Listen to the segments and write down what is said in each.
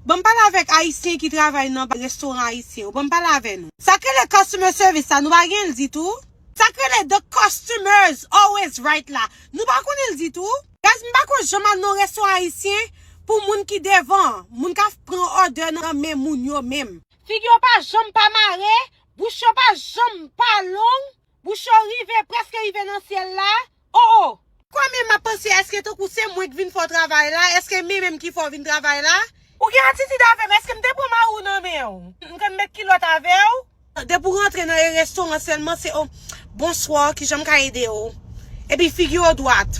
Banm pale avek ayisyen ki travay nan restoran ayisyen yo banm pale avè nou. Sak rele customer service la nou pa genl ditou. Sak rele the customers always right la nou pa konnen l ditou. Guys m pa ko janm al nan restoran ayisyen pou moun ki devan an moun kap pran order nan men moun yo menm. Fig yo pa janm pa mare, bouch yo pa janm pa long. Bouche w rive, preske rive nan syèl la, oh oh! Kò men map panse eske tankou se mwen k vin fè w travay la, eske men menm ki fè w vin travay la? Ou gen atitid avè m, eske m te pran mari w nan men w? M konn met kilòt avè w? Depi w rantre nan e restoran sèlman se oh, bonswa, kijan m ka ede w? Epi figi yo dwat.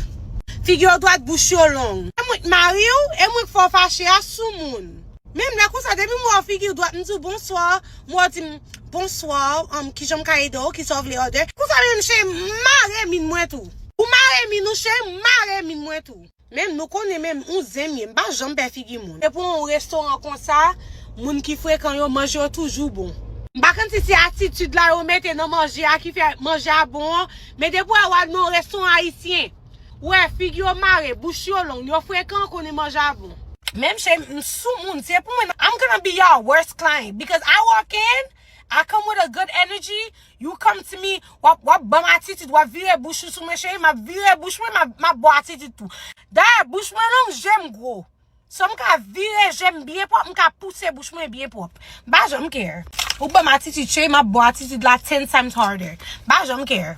Figi yo dwat, bouch yo long. Se mwen k mari w, e mwen k fè w fache a, soumoun. Menm lè konsa depi m wè w figi w dwat m di w bonswa. Mwen yo di m, Bonsoir, um, kijan m ka ede w, kisa w vle order? Konsa menm cheri m, m mare min mwen tou. Ou mare min ou cheri m, m mare min mwen tou. Menm nou konnen menm ou zen m ye, m pa janm pè figi moun. Depi w nan yon restoran konsa, moun ki frekan yo, manje yo toujou bon. M pa konn si se atitid la yo mete nan manje a ki fè manje a bon an, men depi w wè w al nan yon restoran ayisyen, Wè figi yo mare, bouch yo long, yo frekan konnen manje a bon. Menm che m sou moun se pou mwen nan. I'm gonna be y'all worst client because I walk in I come with a good energy you come to me wap wap banm atitid wap vire bouch ou sou mwen cheri map vire bouch mwen map baw atitid tou dayè bouch mwen long jem gwo so m ka vire jem byen pwòp m ka pouse bouch mwen byen pwòp m pa janm care ou banm atitid cheri map baw atitid la ten times harder m pa janm care.